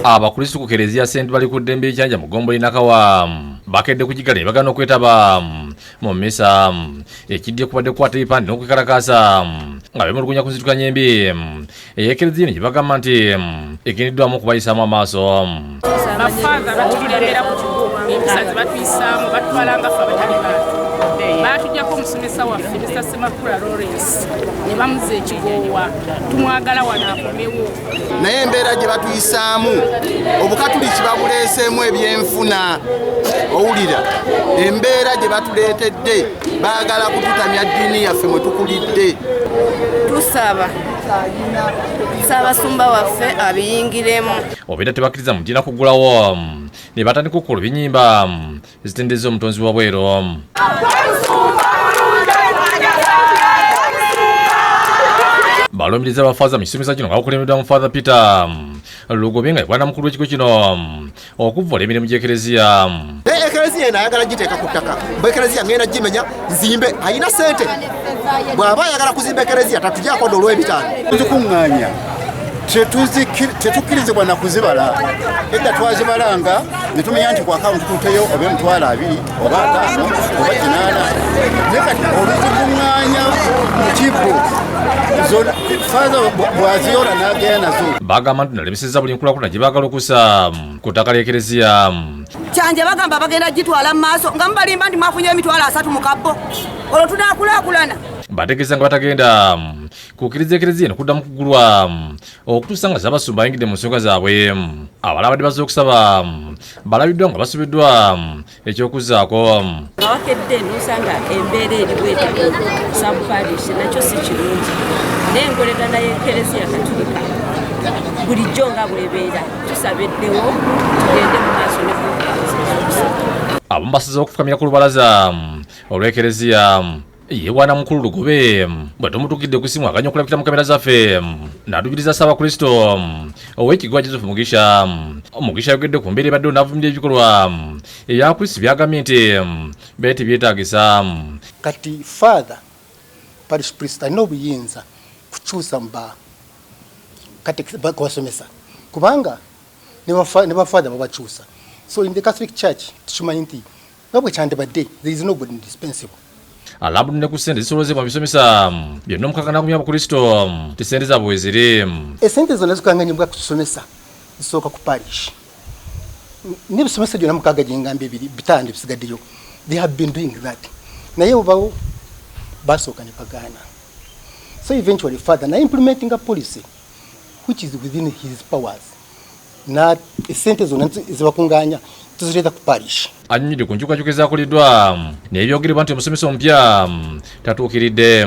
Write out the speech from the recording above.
abakristu ku kereziya sent bali ku ddembe ekyanja mu gombo inakawa bakedde kugigala ne bagana okwetaba mu misa ekiddye kubadde kukwata ebipande n'okwekalakaasa nga bemulugunya ku nzitukanya embi eyekereziya ne gye bagamba nti egendeddwamu okubayisaamu amaaso bafaadha batulemera ku kigo empisa ze batuyisaamu batutwala nga fe abatali bantu baatujjako omusomesa waffe mr semakula lawrence ne bamuza ekigoowa tumwagala wano akomewo naye embeera gye batuyisaamu obukatuliki babuleeseemu ebyenfuna owulira embeera gye batuleetedde baagala kututamya ddiini yaffe mwe tukulidde tusaba saabasumba waffe abiyingiremu obeera tebakkiriza mugina kugulawo ne batandika okukola ebinyimba ezitendeza omutonzi wa bweru balumiriza bafaza mu kisomesa kino nga bakulembeddwa mu father peter lugobe nga ebwana mukulu w'ekigo kino okuvvula emirimu gy'ekereziya ekereziya eno ayagala giteeka ku ttaka bwe ekereziya ngenda gimenya nzimbe alina sente bw'aba ayagala kuzimba ekereziya tatujakwada olw'ebitaano tukuŋŋaanya tetukkirizibwa na kuzibala edda twazibalanga ne tumenya nti ku akawunti tuteyo oba emitwalo abiri oba ataano oba kinaana naye kati oluzikuŋŋaanya mu kibbo bagamba nti nalemeseza buli nkulakulana gye baagala okusa ku ttaka ly'ekereziya kyanje bagamba bagenda gitwala mu maaso nga mubalimba nti mwafunye emitwalo asatu mu kabbo olwo tunakulakulana bategeeza nga batagenda mm, kukkiriza ekereziya eno kuddamu kugulwa mm, okutuusa nga zabasumba ayingidde mu nsonga zaabwe mm. abala abadde bazze okusaba balabiddwa nga basubiddwa ekyokuzzaako awakedde nosanga embeera eriwete sabuparish nakyo si kirungi naye enkolegana y'ekereziya katulika bulijjo nga bwebeera tusaba eddewo tugende mu maaso ne abamu basize okufukamira ku lubalaza olw'ekereziya yewana mukulu lugobe bwe tumutukidde ku simu aganya okulabikira mu kamera zaffe natugiriza ssaabakristo ow'ekigwa joseph mugisha mugisha ayogedde ku mbeera ebaddewo n'avumirira ebikolwa ebyakrisi byagambye nti beete byetaagisa kati father parish priest alina obuyinza kukyusa muba kubasomesa kubanga ne bafather babakyusa so in the catholic church tukimanyi nti nga bwe kyandibadde there is no good indispensable alabudde ne ku ssente zisolozebwa mu bisomesa byonna omukaka n'agumya abakristo ti ssente zaabwe weziri esente zonna zikanganyibwa ku kisomesa zisooka ku parish nebisomesa gyona mukaga gyengambye biri bitano bisigaddeyo they have been doing that naye obawo basooka ne pagana so eventually father na implementing a policy which is within his powers na esente zona zibakunganya tuzireta ku parish anyumide ku nkyukakyuka ezakoleddwa naye byogerebwa nti omusomesa omupya tatuukiridde